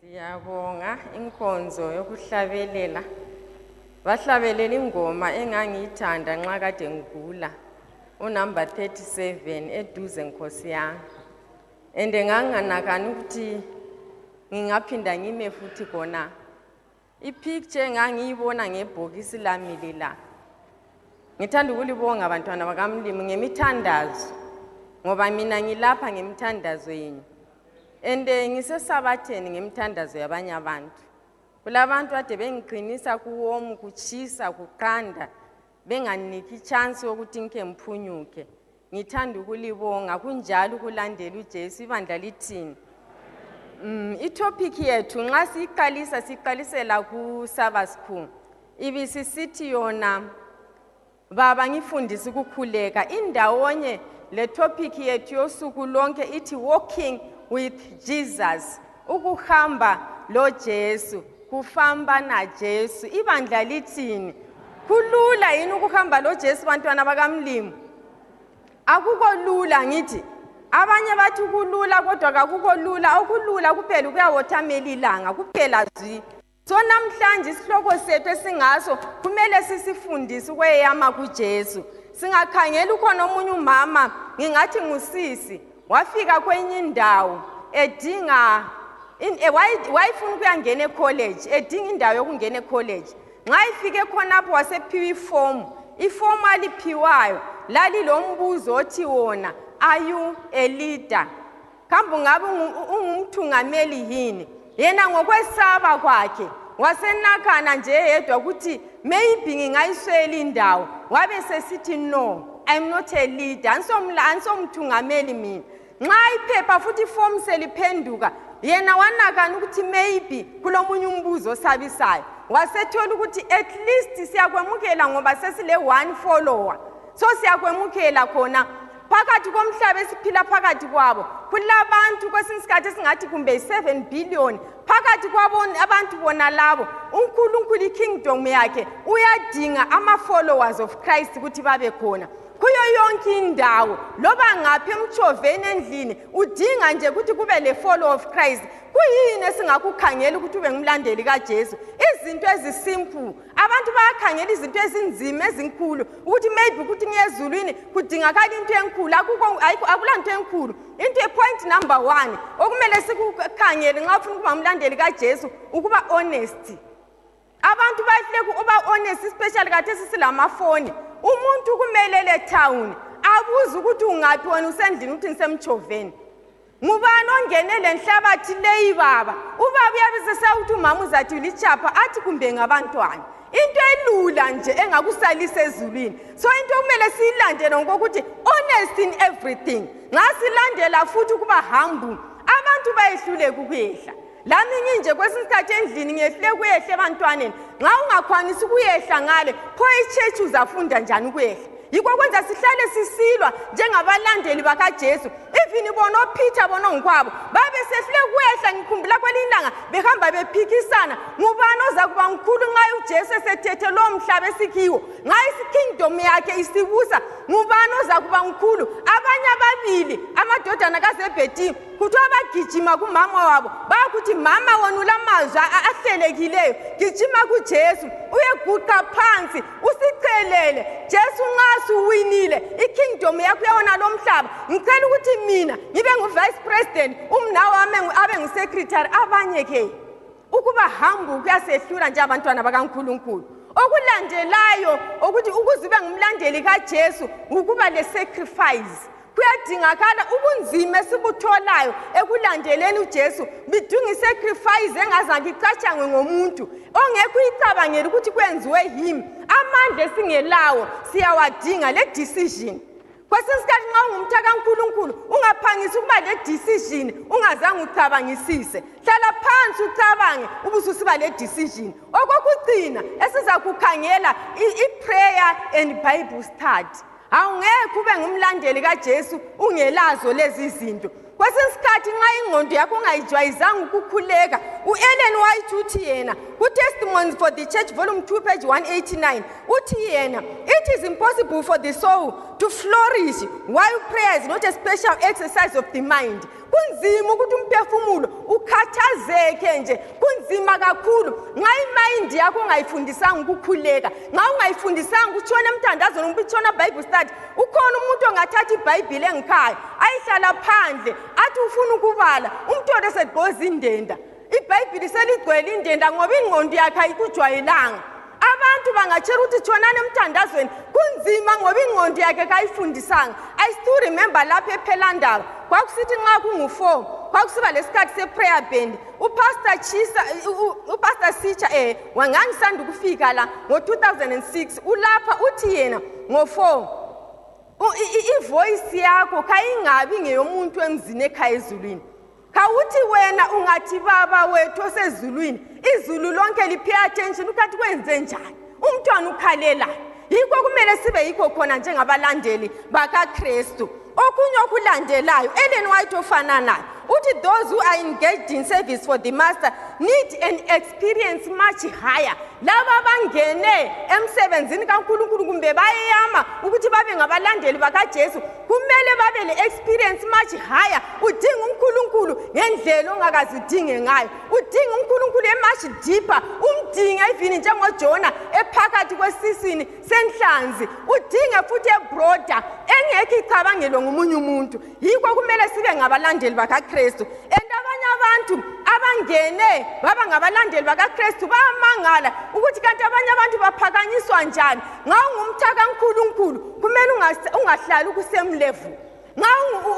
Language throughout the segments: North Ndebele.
Siyabonga inkonzo yokuhlabelela. Bahlabelela ingoma engangiyithanda nxa kade ngigula. Unumber 37 eduze nkosi yami. And nganginganakani ukuthi ngingaphinda ngime futhi khona. Ipicture engangiyibona ngebhokisi lami lela. Ngithanda ukulibonga bantwana bakamlimu ngemithandazo ngoba mina ngilapha ngemithandazo yenu. And eh, ngisesabatheni ngemithandazo yabanye abantu. Kulabantu ade bengiqinisa kuwomu kutshisa kuqanda benganiki chance yokuthi ngike ngiphunyuke. ngithanda ukulibonga kunjalo ukulandela ujesu ibandla lithini um mm, itopic yethu nxa siyiqalisa siqalisela kusabasku ibisisithi yona baba ngifundise ukukhuleka indawonye le topic yethu yosuku lonke ithi walking with jesus ukuhamba lojesu kufamba najesu ibandla lithini kulula yini ukuhamba lojesu bantwana bakamlimu akukho lula ngithi abanye bathi kulula kodwa kakukho lula okulula kuphela ukuyawothamela ilanga kuphela zwi So namhlanje isihloko sethu esingaso kumele sisifundise ukweyama kuJesu. Singakhangela ukhona omunye umama ngingathi ngusisi wafika kwenye indawo edinga eh, wayefuna ukuyangena ecollege edinga indawo yokungena ecollege nxa ifike khonapho wasephiwa ifomu ifomu aliphiwayo lalilombuzo othi wona are you a leader kambe ungabe ungumthungameli yini yena ngokwesaba kwakhe wasenakana nje yedwa ukuthi maybe ngingayiswela indawo wabe sesithi no i'm not a leader ansomthungameli mina nxa iphepha futhi ifomu seliphenduka yena wanakana ukuthi maybe kulomunye umbuzo osabisayo wasethola ukuthi at least siyakwamukela ngoba sesile-one follower so siyakwemukela khona phakathi komhlaba esiphila phakathi kwabo kulabantu kwesinye isikhathi esingathi kumbe yi-7 billion phakathi kwabantu bona labo unkulunkulu ikingdom yakhe uyadinga ama-followers of christ ukuthi babe khona kuyo yonke indawo loba ngaphi emtshoveni endlini udinga nje ukuthi kube le-follow of christ kuyini esingakukhangela ukuthi ube ngumlandeli kajesu izinto ezisimple abantu bayakhangela izinto ezinzima ezinkulu ukuthi maybe ukuthi ngiyezulwini kudingakala into enkulu akula nto enkulu into epoint number one okumele sikukhangele nxa ufuna ukuba umlandeli kajesu ukuba honest abantu bahleke uba honest especially kathesi silamafoni umuntu kumele le town abuze ukuthi ungaphi wena usendlini ukuthi ngisemtshoveni ngubani ongene lenhlabathi leyi baba ubaba uyabe sesawukuthi umama uzathi litshapha athi kumbe ngabantwana into elula nje engakusalisa ezulwini so into okumele siyilandele ngokuthi honest in everything ngasilandela futhi ukuba hambu abantu bayehluleka ukuyehla lami nginje kwesinye isikhathi endlini ngiyehle kuyehla ebantwaneni nxa ungakwanisi ukuyehla ngale pho ichechi uzafunda njani ukuyehla yikho kwenza sihlale sisilwa njengabalandeli bakajesu even bona ophitha bona ongikwabo babe sehlule kuyehla ngikhumbula kwelinye ilanga behamba bephikisana ngubani oza kuba ngikhulu nxa ujesu esethethe lowo mhlaba esikhiwo nxa isikingdom yakhe isibusa ngubani oza kuba ngikhulu abanye ababili amadodana kazebhedini kuthiwa bagijima kumama wabo bakuthi mama wona ulamazwi ahlelekileyo gijima kujesu uyeguqa phansi usicelele jesu nxa suwinile ikingdom yakho yawona lo mhlaba ngicela ukuthi mina ngibe ngu-vice president umnawami abe ngu-secretary abanye ke ukuba hambu kuyasehlula njengabantwana bakankulunkulu okulandelayo ukuthi ukuze ube ngumlandeli kajesu ukuba le-sacrifice kuyadingakala ubunzima esibutholayo ekulandeleni ujesu bidinga isacrifice engazange icatshangwe ngomuntu ongekho uyicabangela ukuthi kwenziwe yimi amandla esingelawo siyawadinga le decision kwesinye isikhathi nxa ungumtha kankulunkulu ungaphangisi ukuba le-decision ungazange ucabangisise hlala phansi ucabange ubususiba le-decision okokucina esizakukhangela i-prayer and bible study awungekho ube ngumlandeli kajesu ungelazo lezi zinto kwesinye isikhathi nxa ingqondo yakho ungayijwayizanga ukukhuleka u-ellen white uthi yena kutestimonies for the church volume 2 page 189 uthi yena it is impossible for the soul to flourish while prayer is not a special exercise of the mind kunzima ukuthi umphefumulo ukhathazeke nje kunzima kakhulu nxa imayindi yakho ungayifundisanga ukukhuleka nxa ungayifundisanga ukutshona emthandazweni umbe itshona bible study ukhona umuntu ongathatha ibhayibhile engikhaya ayihlala phandle athi ufuna ukubala umthole segqoza indenda ibhayibhili seligcwele indenda ngoba ingqondo yakhe ayikujwayelanga abantu bangatshela ukuthi thonani emthandazweni kunzima ngoba ingqondo yakhe kayifundisanga i still remember lapho ephelandaba kwakusithi nxa kungu-four kwakusiba lesikhathi se-prayer band upastor chisa upastor sitsha um eh, wangangisanda ukufika la ngo-2006 ulapha uthi yena ngo-4 ivoyisi yakho kayingabi ngeyomuntu emzini ekhaya ezulwini khawuthi wena ungathi baba wethu osezulwini izulu lonke liphe attention ukhathi kwenze njani umntwana ukhalelani yikho kumele sibe yikho khona njengabalandeli bakakristu okunye okulandelayo ellen white ofananayo uthi those who are engaged in service for the master need an experience much higher laba abangene emsebenzini kankulunkulu kumbe bayeyama ukuthi babe ngabalandeli bakajesu kumele babe le-experience much higher udinga unkulunkulu ngendlela ongakazi udinge ngayo udinga unkulunkulu emuch deeper umdinge ivini njengojona ephakathi kwesisini senhlanzi udinge futhi ebroda engekho icabangelwe ngomunye umuntu yikho kumele sibe ngabalandeli bakakristu and abanye abantu abangene baba ngabalandeli bakakristu bayamangala ukuthi kanti abanye abantu baphakanyiswa njani ngaw ngumthakankulunkulu kumele ungahlali ukusemlevu nxa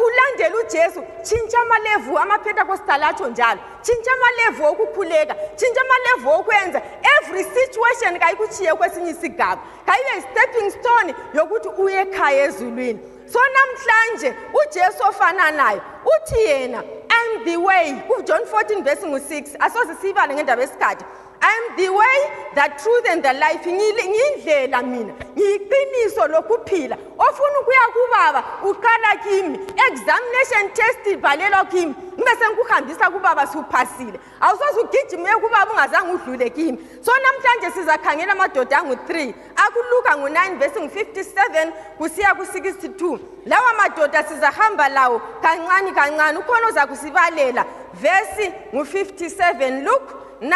ulandela ujesu tshintsha amalevu amapentecostal atsho njalo tshintsha amalevu okukhuleka tshintsha amalevu okwenza every situation kayikutshiye kwesinye isigaba kayibe yi-stepping stone yokuthi uyekhaya ezulwini so namhlanje ujesu ofananayo uthi yena am the way ujohn 14 vesi ngu-6 asoze siyibale ngendaba yesikhathi I'm the way, the truth and the life. Ngile- Ngiyindlela mina, ngiyiqiniso lokuphila. Ofuna ukuya kubaba uqala kimi. Examination test ibhalelwa kimi. Ngibe sengikuhambisa kubaba suphasile. Awusoze ugijime uye kubaba ungazange udlule kimi. So namhlanje sizakhangela amadoda angu-3 akuluka ngu-9 vesi ngu-57 kusiya ku-62 lawa madoda sizahamba lawo kancane kancane ukhona ozakusibalela vesi ngu-57 luke 9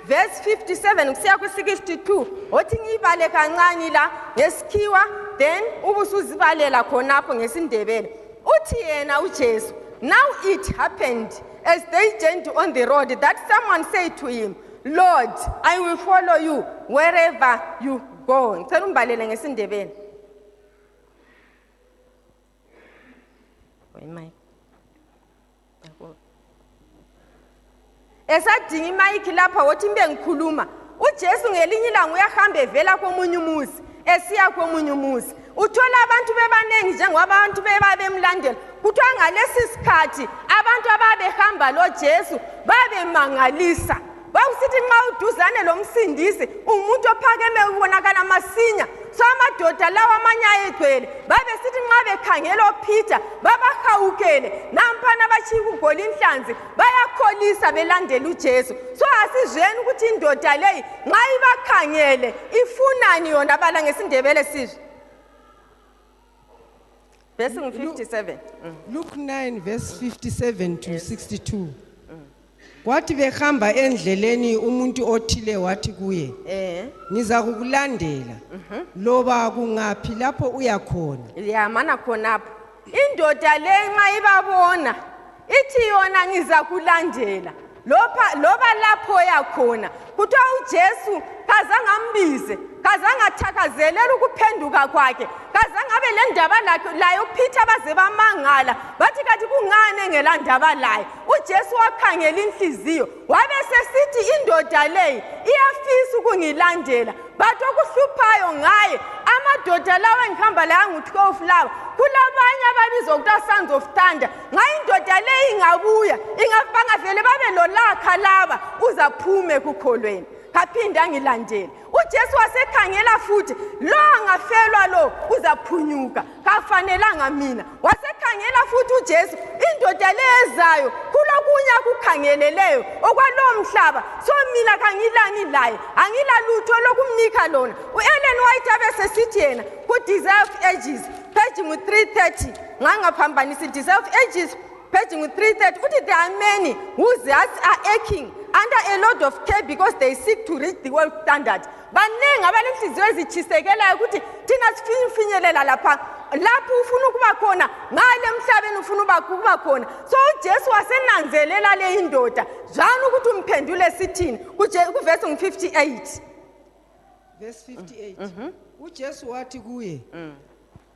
vesi 57 kusiya ku-62 othi ngiyibale kancane la ngesikhiwa then ubusuzibalela khonapho ngesindebele uthi yena ujesu now it happened as they journeyed on the road that someone said to him Lord, I will follow you wherever you go. Ngicela umbalele ngesindebele. Wait, Mike. esadinga imayikhi lapha wothi mbe ngikhuluma ujesu ngelinye ilanga uyahamba evela komunye umuzi esiya komunye umuzi uthola abantu bebanengi njengoba abantu beba bemlandela kuthiwa ngalesi sikhathi abantu ababehamba lojesu babemangalisa kwakusithi nxa uduzane lomsindisi umuntu ophakeme ubonakala masinya so amadoda lawo amanye ayegcwele babesithi nxa bekhangela ophitha babahawukele nampana batshiya ukuggola inhlanzi bayakholisa belandela ujesu so asizweni ukuthi indoda leyi nxa ibakhangele ifunani yona bala ngesindebele sizwe verse 57 mm. luke 9 verse 57 to 62 kwathi behamba endleleni umuntu othile wathi kuye eh ngiza kukulandela mhm. loba kungaphi lapho uyakhona yamana khonapho indoda le nxa ibabona ithi yona ngizakulandela loba lapho yakhona kuthiwa ujesu kazange ambize kazange athakazelele ukuphenduka kwakhe kazange abe le ndaba laye uphitha baze bamangala bathi kathi kungani engelandaba laye ujesu wakhangela inhliziyo wabe sesithi indoda leyi iyafisa ukungilandela but okuhluphayo ngaye amadoda lawa engihamba layo angu-12 lawa kulabanye ababizwa kuthiwa sons of thunder nxa indoda leyi ingabuya ingabangavele babe lolakha laba uzaphume kukholweni kaphinde angilandele ujesu wasekhangela futhi lo angafelwa lo uzaphunyuka kafanelanga mina wasekhangela futhi ujesu indoda le ezayo kulokunye akukhangeleleyo okwalowo mhlaba so mina kangilani laye angilalutho lokumnika lona u-ellen white abesesithi yena ku-deserve ages page ngu-330 ngangaphambanisi deserve ages Paging 330, Uti, there are many whose hearts are aching under a load of care because they seek to reach the world standard. Baningi abanenhliziyo ezitshisekelayo ukuthi thina sifuna ukufinyelela lapha lapho ufuna ukuba khona ngale emhlabeni ufuna ukuba khona so ujesu wasenanzelela le indoda zwani ukuthi umphendule sithini kuvesi ngu-58 verse 58 mm -hmm. ujesu wathi kuye mm.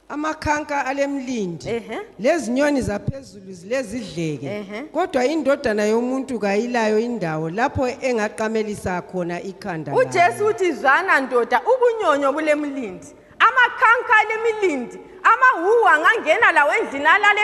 amakhanka alemlindi Ehe. lezinyoni zaphezulu zilezidleke Ehe. kodwa indodana yomuntu kayilayo indawo lapho engaqamelisa khona ikhanda layo. ujesu uthi zwana ndoda ubunyonyo bulemlindi amakhanka alemilindi amahuwa angangena lawo endlini alale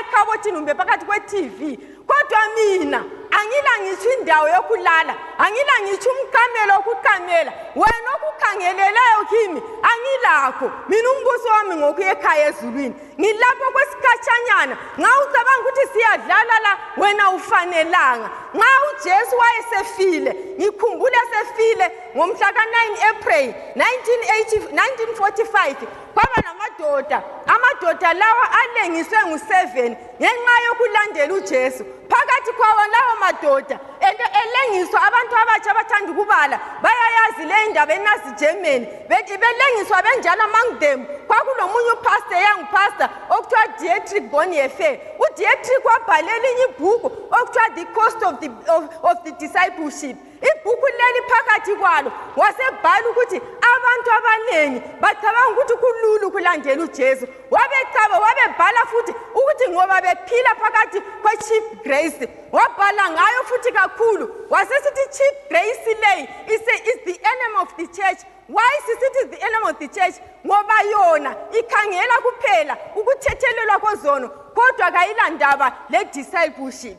ekhabothini kumbe phakathi kwe-tv kodwa mina angila ngitsho indawo yokulala angila ngitsho umqamelo wokuqamela wena okukhangeleleyo kimi angilakho mina umbuso wami ngokuya ekhaya ezulwini ngilapho kwesikhatshanyana nxa ucabanga ukuthi siyadlala la wena ufanelanga nxa ujesu wayesefile ngikhumbule sefile ngomhla ka-9 april 1945 kwaba namadoda amadoda lawa alengiswe ngu-7 ngenxa yokulandela ujesu phakathi kwawo lawo madoda ento elengiswa abantu abatsha abathanda ukubala bayayazi le indaba enazi germany bethi belengiswa benjalo among them kwakulomunye upastor young pastor okuthiwa dietric boniefe udietric wabhala elinye ibhuku okuthiwa the cost of the, of, of the discipleship ibhuku leli phakathi kwalo wasebhala ukuthi abantu abaningi bacabanga ukuthi kululu kulandela ujesu wabecaba wabebhala futhi ukuthi ngoba bephila phakathi kwe-chief grace wabhala ngayo futhi kakhulu wasesithi chief grace leyi is the enemy of the church why sisithi the enemy of the church ngoba yona ikhangela kuphela ukuthethelelwa kozono kodwa kayilandaba le-discipleship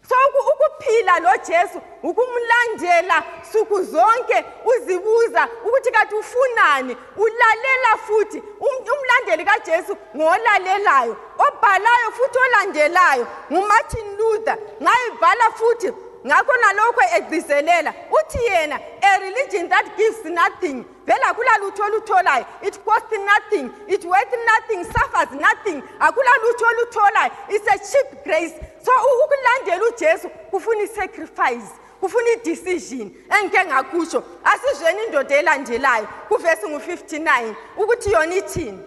so ukuphila lojesu ukumlandela suku zonke uzibuza ukuthi kathi ufunani ulalela futhi um, umlandeli kajesu ngolalelayo obhalayo futhi olandelayo ngumartin luther ngayibhala futhi ngakho nalokho egcizelela uthi yena a religion that gives nothing then akula lutho olutholayo it costs nothing it worth nothing suffers nothing akula lutho olutholayo it's a cheap grace so ukulandela ujesu kufuna i-sacrifice kufuna i-decision engike ngakusho asizweni indoda elandelayo kuvesi ngu-59 ukuthi yona ithini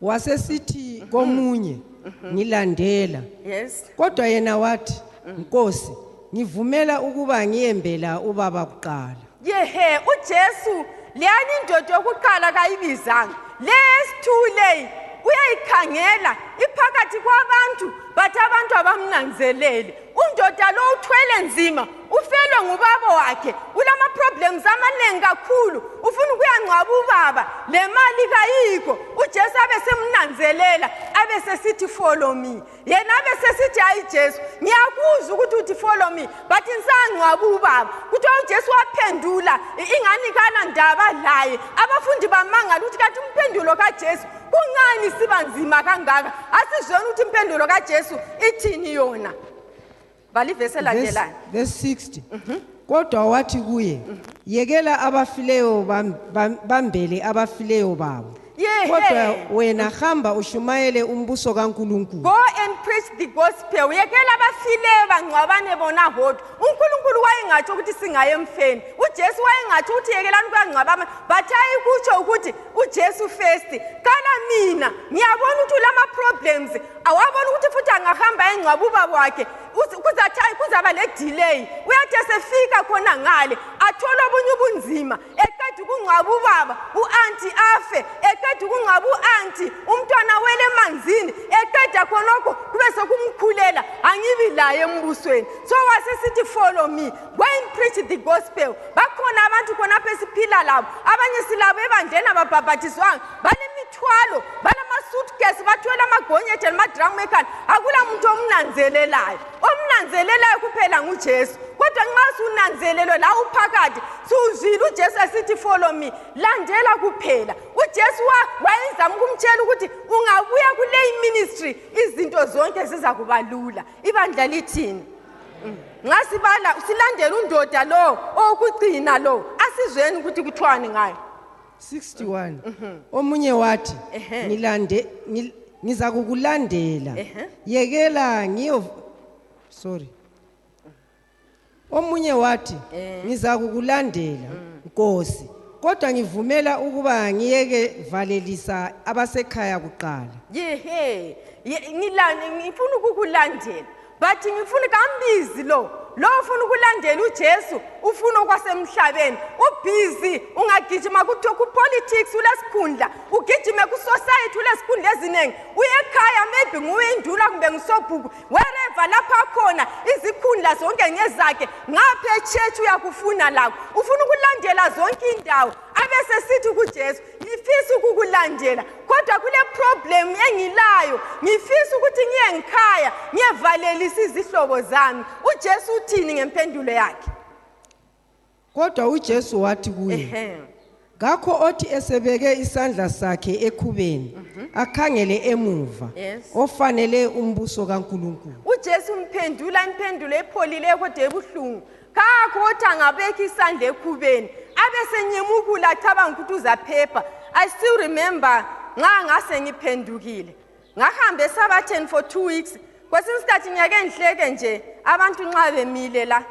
wasesithi komunye ngilandela yes kodwa yena wathi nkosi ngivumela ukuba ngiyembela ubaba kuqala yehe ujesu leyani indoda yokuqala kayibizanga leyesithuleyi uyayikhangela iphakathi kwabantu bathi abantu abamnanzelele undoda lo uthwele nzima ufelwe ngubaba wakhe ulama-problems amaningi kakhulu ufuna ukuyangcwaba ubaba le mali kayikho ujesu abe semnanzelela abe sesithi follow me yena abe sesithi hayi jesu ngiyakuzwa ukuthi uthi follow me but ngisangcwaba ubaba kuthiwa ujesu waphendula ingani kanandaba laye abafundi bamangala ukuthi kathi umphendulo kajesu kungani siba nzima kangaka asizweni ukuthi impendulo kajesu ithini yona balivesi elandelani verse 60 mhm. kodwa wathi kuye mhm. yekela abafileyo bambele abafileyo babo kodwa wena hamba ushumayele umbuso kaNkuluNkulu go and preach the gospel uyekela abafile bangcwabane bona hodwa uNkulunkulu wayengatsho ukuthi singaye emfeni uJesu wayengatsho ukuthi yekelani kuyangcwabama but ayikutsho ukuthi uJesu first kala mina ngiyabona ukuthi ulama problems awabona ukuthi futhi angahamba engcwaba ubaba wakhe kuzathi ayi kuzaba le delay uyathi esefika khona ngale athole obunye ubunzima eqeda ukungcwaba ubaba u-anti afe eqeda ukungcwaba u-anti umntwana wele emanzini eqeda khonokho kube sekumkhulela angibi laye embusweni so wasesithi follow me when preach the gospel bakhona abantu khonapha esiphila labo abanye silabo ebandleni ababhabhathizwanga balemithwalo balamasutkesi bathwele amagonyethe lamadramu ekhanda akula muntu omnanzelelayo omnanzelelayo kuphela ngujesu kodwa nxa sunanzelelwe la uphakathi siwuzwile ujesu esithi follow me landela kuphela ujesu wayezama ukumtshela ukuthi ungabuya kuleyi ministry izinto zonke zizakuba lula ibandla lithini nxa sibala silandela undoda lo owokugcina lo asizweni ukuthi kuthiwani ngayo 61 mhm. omunye wathi ngilande ngiza kukulandela yekela ngiyo sorry omunye wathi eh. ngiza kukulandela mm. nkosi kodwa ngivumela ukuba ngiyeke valelisa abasekhaya kuqala yehe ngilani ngifuna ukukulandela but ngifuna kambizi lo lo ufuna ukulandela ujesu ufuna okwasemhlabeni ubhizi ungagijima kuthiwa kupolitics ulesikhundla ugijime kusociety ulesikhundla eziningi uyekhaya maybe nguwe indula kumbe ngisobhuku wereva lapho akhona izikhundla zonke ngezakhe ngapha echurch uyakufuna lakho ufuna ukulandela zonke indawo abesesithi kujesu ngifisa ukukulandela kodwa kuleproblem engilayo ngifisa ukuthi ngiye ngikhaya ngiyevalelisa izihlobo zami ujesu uthini ngempendulo yakhe kodwa ujesu wathi kuye kakho othi esebeke isandla sakhe ekhubeni mhm. akhangele emuva ofanele umbuso kankulunkulu ujesu umphendula impendulo epholile kodwa ebuhlungu kakho othi angabekha isandla ekhubeni abesenyemukula acabanga ukuthi uzaphepha i still remember nxa ngase ngiphendukile ngahambe esabatheni for two weeks kwesinye isikhathi ngiyake ngihleke nje abantu nxa bemile la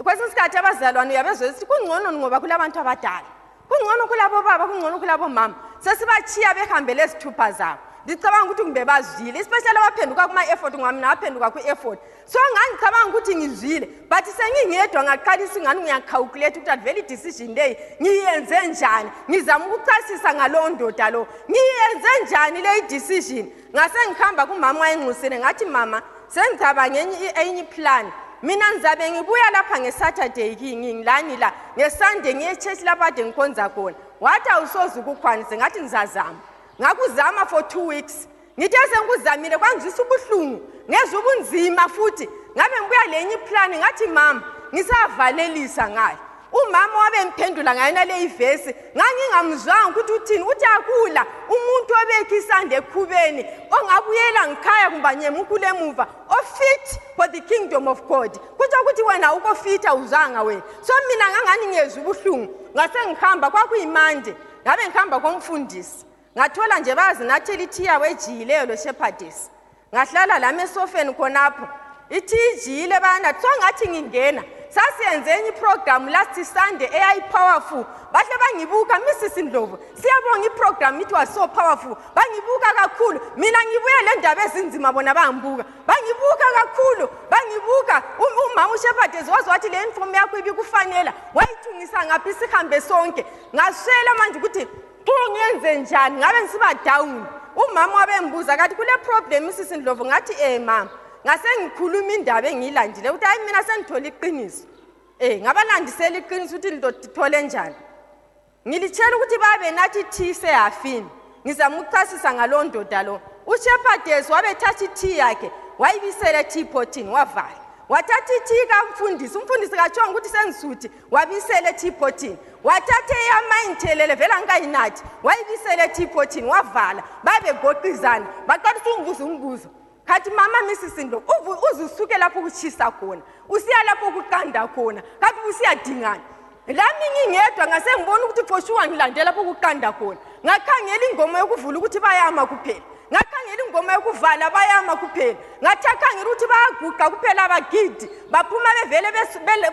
kwesinye isikhathi abazalwane uyabezwa ukuthi kungcono ngoba kulabantu abadala kungcono kulabo baba kungcono kulabo mama sesibachiya behambele ezithupha zabo ndicabanga ukuthi kumbe bazwile especially abaphenduka kuma-effort ngoba mina aphenduka kwi-effort so ngangicabanga ukuthi ngizwile but sengingedwa ngaqalisa ingani ngiyacalculate ukuthi avele i-decision leyi ngiyenze njani ngizama ukuchasisa ngalowo ndoda lo ngiyenze njani leyi decision ngasengihamba kumama wayenxusile ngathi mama sengicabange enye iplan mina ngizabe ngibuya lapha ngesaturday ngilani la ngesande ngiyechurch lapho ade ngikhonza khona wathi awusoze ukukhwanise ngathi ngizazama ngakuzama for two weeks ngithe sengikuzamile kwangizwisa ubuhlungu ngezwa ubunzima futhi ngabe ngibuya lenye iplani ngathi mama ngisavalelisa ngayo umama wabemphendula ngayona leyi vesi ngangingamzwanga ukuthi uthini uthi akula umuntu obekhe isanda ekhubeni ongabuyela ngikhaya kumbe anyemukule emuva ofit for the kingdom of god kutsho ukuthi wena ukofitha uzanga wena so mina ngangani ngezwa ubuhlungu ngase ngihamba kwakuyimande ngabe ngihamba komfundisi ngathola nje bayazinathela ithiya wejiyileyo loshephadesi ngahlala lami esofeni khonapho ithiya ijiyile bayanathi so ngathi ngingena sasiyenze enye iprogramu last sunday eyayipowerful bahle bangibuka misisi ndlovu siyabonga iprogramu it was so powerful bangibuka kakhulu mina ngibuye le ndaba ezinzima bona bangibuka bangibuka kakhulu bangibuka umama ushephadezi waze wathi le uniform yakho ibikufanela wayithungisa ngaphi sihambe sonke ngaswela manje ukuthi Bo ngenze njani ngabe ngisiba down. Umama wabengibuza kathi kule problem sisi Ndlovu ngathi eh mama. Ngasengikhuluma indaba engilandile ukuthi hayi mina sengithola iqiniso. Eh ngabalandisela iqiniso ukuthi ngithole njani. Ngilitshela ukuthi babe nathi thise yafini. Ngizama ukuchasisa ngalondoda lo. UShepherdess wabethatha ithi yakhe wayibisela ethi pothini wavala. wathatha ithika umfundisi umfundisi katshonga ukuthi sengisuthi wabisela ethiphotini wathatha eyama ingithelele vele angikayinathi wayibisela ethiphotini wavala babegoqizana baqalisa ungibuza umbuzo khathi mama misisindo uze usuke lapho ukutshisa khona usiya lapho ukuqanda khona khathi usiyadingana lami ngingedwa ngase ngibona ukuthi phoshuwa ngilandela lapho ukuqanda khona ngakhangela ingoma yokuvula ukuthi bayama kuphela ngakhangela ingoma yokuvala bayama kuphela ngathi akhangela ukuthi bayaguqa kuphela abagidi baphuma bevele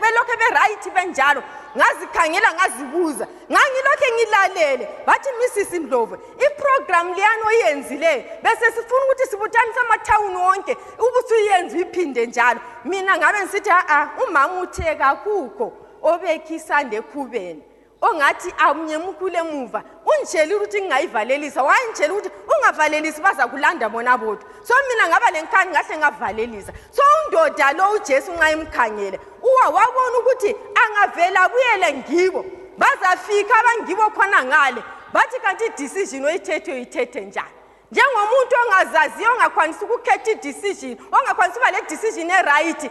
belokhe berayithi benjalo ngazikhangela ngazibuza ngangilokhe ngilalele bathi misisi ndlovu iprogramu liyani oyenzileyo bese sifuna ukuthi sibuthanise amathawuni wonke ubusuyenzi uyiphinde njalo mina ngabe ngisithi a-a umama uthe kakukho obekhisande ekhubeni ongathi amnyemukule emuva ungitshela ukuthi ngingayivalelisa wayengitshela ukuthi ungavalelisi bazakulanda bona bodwa so mina ngaba le nkhani ngahle ngavalelisa so undoda lo ujesu nxa emkhangele uwa wabona ukuthi angavele abuyele ngibo bazafika abangibo khona ngale bathi kanti idecision oyithethe uyithethe njani njengomuntu ongazaziyo ongakwanisa ukukhetha idecision ongakwanisa uba le decision eright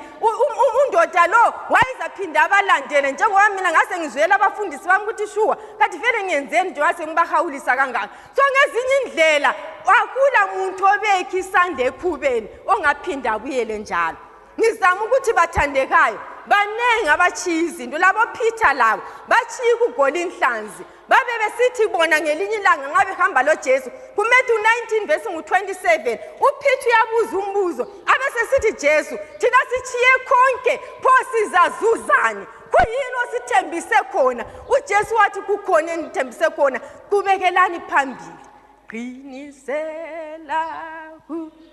undoda lo wayezaphinde abalandele njengoba mina ngase ngizwela abafundisi bami ukuthi shuwa kathi vele ngiyenzeni nje wase ngibahawulisa kangaka so ngezinye indlela akula muntu obekhe isandla ekhubeni ongaphinde abuyele njalo ngizama ukuthi bathandekayo baningi abatshiya izinto labophitha labo batshiya ukugoli inhlanzi babe besithi bona ngelinye ilanga nxa behamba lojesu kumethu 19 vesi ngu-27 uphitha uyabuza umbuzo abesesithi jesu thina sitshiye konke pho sizazuzani kuyini osithembise khona ujesu wathi kukhona enithembise khona qubekelani phambili qinisela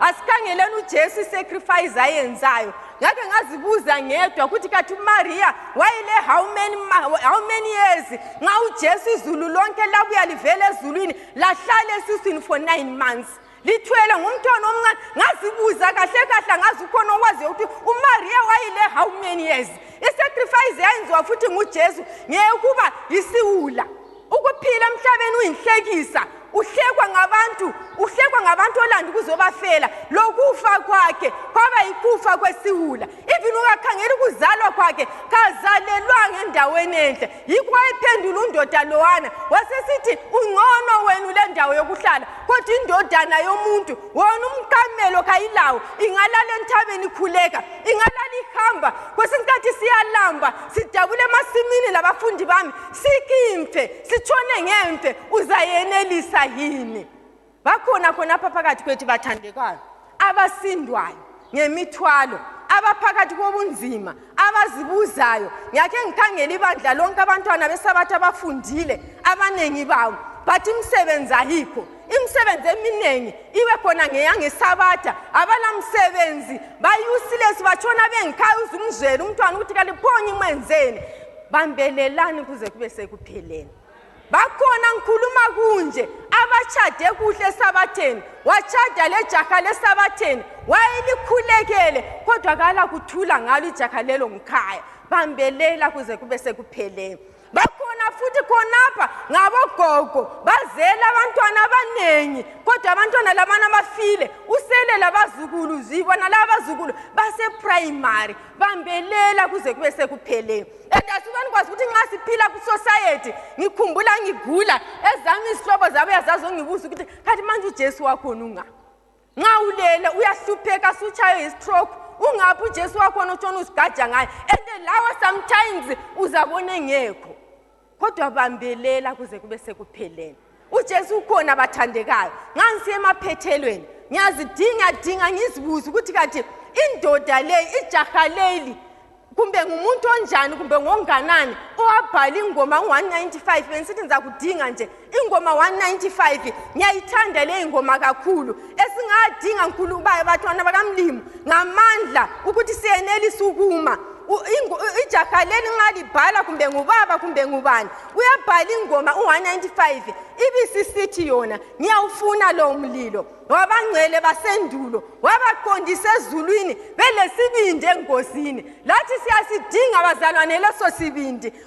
asikhangeleni ujesu isacrifice ayenzayo ngake ngazibuza ngedwa ukuthi kathi umariya wayele how many, how many years nxa ujesu izulu lonke labuya livela ezulwini lahlala esiswini for nine months lithwele ngumntwana omncane ngazibuza kahle kahle angazi ukhona okwaziyo ukuthi umariya wayile how many years isacrifice yayenziwa futhi ngujesu ngeyekuba yisiwula ukuphila emhlabeni uyinhlekisa uhlekwa ngabantu uhlekwa ngabantu olanda ukuzobafela lokufa kwakhe kwaba yikufa kwesiwula even ungakhangela ukuzalwa kwakhe kazalelwanga endaweni enhle yikho wayephendula undoda lowana wasesithi ungcono wenu le ndawo yokuhlala kodwa indodana yomuntu wona umqamelo kayilawo ingalala enthabeni ikhuleka ingalala ihamba kwesinye isikhathi siyalamba sidabule emasimini labafundi bami sikimfe sitshone ngemfe uzayenelisa yini bakhona khonapha phakathi kwethu bathandekayo abasindwayo ngemithwalo abaphakathi kobunzima abazibuzayo ngiyakhe ngikhangela ibandla lonke abantwana besabathi abafundile abaningi bawo bathi imisebenzi ayikho imisebenzi eminingi ibe khona ngeyangesabatha abanamsebenzi bayusilesi batshona bengikhaya uzumzwela umntwana ukuthi kaliphonye imwenzeni bambelelani kuze kube sekupheleni bakhona ngikhuluma kunje abatshade kuhle esabatheni watshada lejaha lesabatheni wayelikhulekele kodwa kala kuthula ngalo ijaha lelo ngikhaya bambelela kuze kube sekupheleni bakhona futhi khonapha ngabogogo bazele abantwana abaningi kodwa abantwana labana bafile usele labazukulu zibona laba bazukulu baseprimary bambelela kuze kube sekuphele and asibani kwazi ukuthi nxa siphila kusociety ngikhumbula ngigula ezami izihlobo zabuya zazongibuza ukuthi khathi manje ujesu wakhona unga nxa ulele uyahlupheka sutshaywe yistroke ungaphi ujesu wakhona otshona uzigaja ngaye and lawa sometimes uzabona engekho kodwa bambelela kuze kube sekupheleni ujesu ukhona bathandekayo ngangisiya emaphethelweni ngiyazidinga dinga ngizibuze ukuthi kanti indoda leyi ijaha leli kumbe ngumuntu onjani kumbe ngonganani owabhala ingoma ngo-195 bengisithi ngizakudinga nje ingoma 195 ngiyayithanda leyi ngoma kakhulu esingadinga nkulu ubaye batwana bakamlimu ngamandla ukuthi siyenelisa ukuma ijaha leli nxa libhala kumbe ngubaba kumbe ngubani uyabhala ingoma u-195 ibisisithi yona ngiyawufuna lowo mlilo wabangcwele basendulo wabaqondisa ezulwini belesibindi engozini lathi siyasidinga bazalwane leso sibindi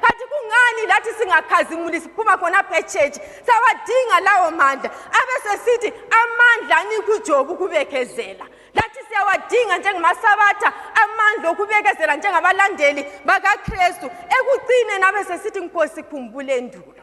khathi kungani lathi singakhazimuli siphuma khona phetshetshi sawadinga lawo mandla abesesithi amandla anikho ujoba ukubekezela lathi siyawadinga njengamasabatha amandla okubekezela njengabalandeli bakakristu ekucineni abesesithi nkosi khumbule ndulo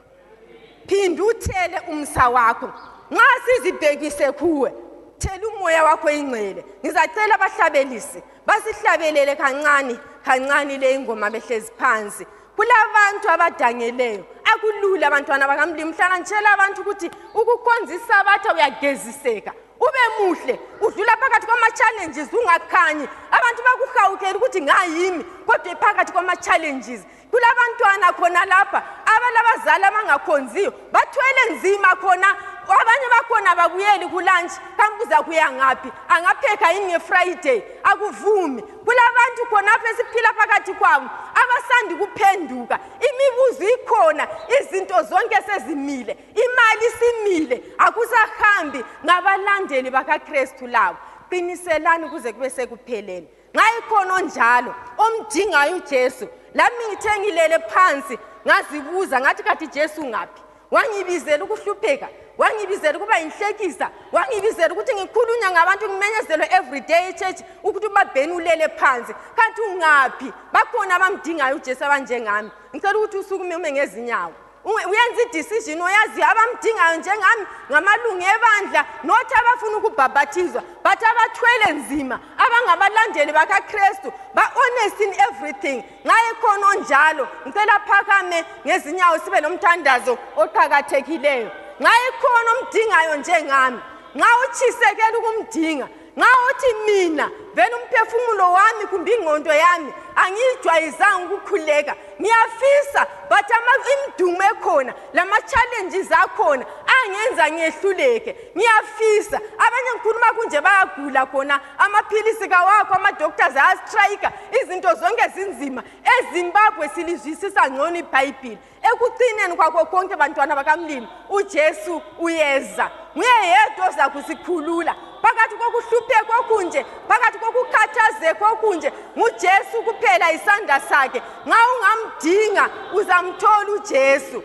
phinda uthele umsa wakho nxa sizibhekise kuwe thela umoya wakho ingcwele ngizacela abahlabelisi basihlabelele kancane kancane le ingoma behlezi phansi kulabantu abadangeleyo akulula abantwana bakamlimi mhlana ngitshela abantu ukuthi ukukhonza isabatha uyageziseka ube muhle udlula phakathi kwama-challenges ungakhanyi abantu bakuhawukela ukuthi ngayimi kodwa phakathi kwama-challenges kulabantwana khona lapha abalabazali abangakhonziyo bathwele nzima khona abanye bakhona babuyeli kulantshi kambuza kuya ngaphi angapheka yini ngefriday akuvumi kulabantu khonapho esiphila phakathi kwabo abasandi kuphenduka imibuzo ikhona izinto zonke sezimile imali simile akusahambi ngabalandeli bakakristu labo qiniselani kuze kube sekupheleni nxa ikhona onjalo omdingayo ujesu lami ngithe ngilele phansi ngazibuza ngathi kathi jesu ngaphi wangibizela ukuhlupheka wangibizela ukuba yinhlekisa wangibizela ukuthi ngikhulunywa ngabantu ngimenyezelwe everyday echurch ukuthi ubabheni ulele phansi kanti ungaphi bakhona abamdingayo ujesu abanjengami ngicela ukuthi usukume ume ngezinyawo U- uyenza idecision oyaziyo abamdingayo njengami ngamalungu ebandla not abafuna ukubhabhathizwa but abathwele nzima abangabalandeli bakakristu ba-honest in everything nxa ekhona onjalo ngicela phakame ngezinyawo sibe lomthandazo oqakathekileyo nxa ekhona omdingayo njengami nxa utshisekela ukumdinga nxa uthi mina vele umphefumulo wami kumbe ingqondo yami angiyijwayizanga ukukhuleka ngiyafisa but imidumo ekhona lama-challenges akhona angenza ngehluleke ngiyafisa abanye ngikhuluma kunje bayagula khona amaphilisi kawakho ama-doctors ayastrayika izinto zonke zinzima ezimbabwe silizwisisa ngcono ibhayibhile ekucineni kwakho konke bantwana bakamlimi ujesu uyeza nguye yedwa oza kusikhulula phakathi kokuhlupheka okunje phakathi kokukhathazeka okunje ngujesu kuphela isandla sakhe nxa ungamdinga uzamthola ujesu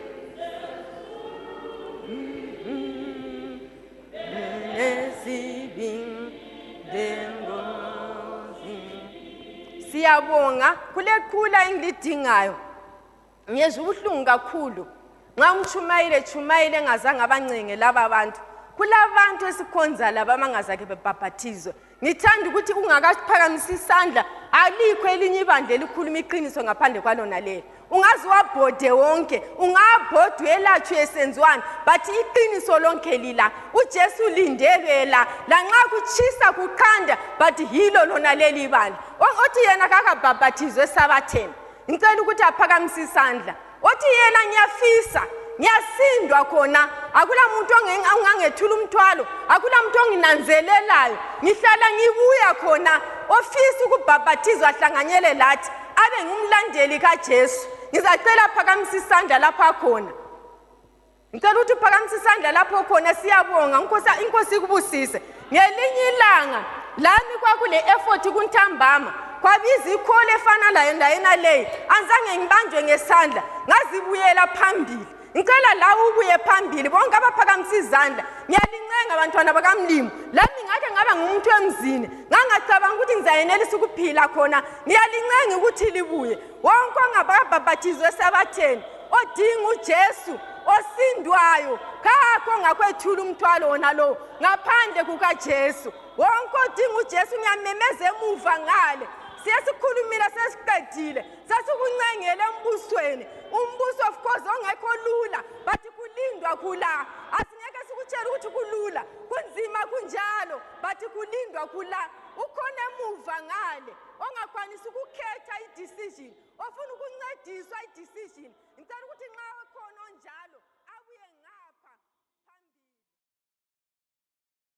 siyabonga kuleqhula engilidingayo ngiyezwa ubuhlungu kakhulu nxa umtshumayile tshumayile engazange abancenge laba bantu kulabantu esikhonza laba abangazake bebhabhathizwe ngithanda ukuthi ungakaphakamisa isandla alikho elinye ibandla elikhuluma iqiniso ngaphandle kwalona leli ungaze wabhode wonke ungabhode uyelatshwe esenziwani but iqiniso lonke lila ujesu ulindelwe la lanxa kutshisa kuqanda but yilo lona leli ibandla othi yena kakabhabhathizwe esabatheni ngicela ukuthi aphakamise isandla othi yena ngiyafisa ngiyasindwa khona akula muntu ongangethula umthwalo akula muntu onginanzelelayo ngihlala ngibuya khona ofisa ukubhabhathizwa ahlanganyele lathi abe ngumlandeli kajesu ngizacela phakamisa isandla lapha khona ngicela ukuthi uphakamise isandla lapho khona siyabonga inkosi ikubusise ngelinye ilanga lami kwakule effort kuntambama kwabiza ikhole efana layo endaweni aleyi anzange ngibanjwe ngesandla ngazibuyela phambili ngicela lawe ubuye phambili bonke abaphakamisa izandla ngiyalincenga bantwana bakamlimo lami ngake ngaba ngumuntu emzini ngangacabanga ukuthi ngizayenelisa ukuphila khona ngiyalincenga ukuthi libuye wonke ongababhabhathizwe esabatheni odinga ujesu osindwayo kakho ngakwethula umthwalo wona lowo ngaphandle kukajesu wonke odinga ujesu ngiyamemeza emuva ngale siyesikhulumile sesiqedile sasikuncengele embusweni umbuso of course ongekho lula but kulindwa khula asingeke sikutshela ukuthi kulula kunzima kunjalo but kulindwa khula ukhona emuva ngale ongakwanisi ukukhetha i-decision ofuna ukuncediswa i-decision ngicela ukuthi nxa ekhona onjalo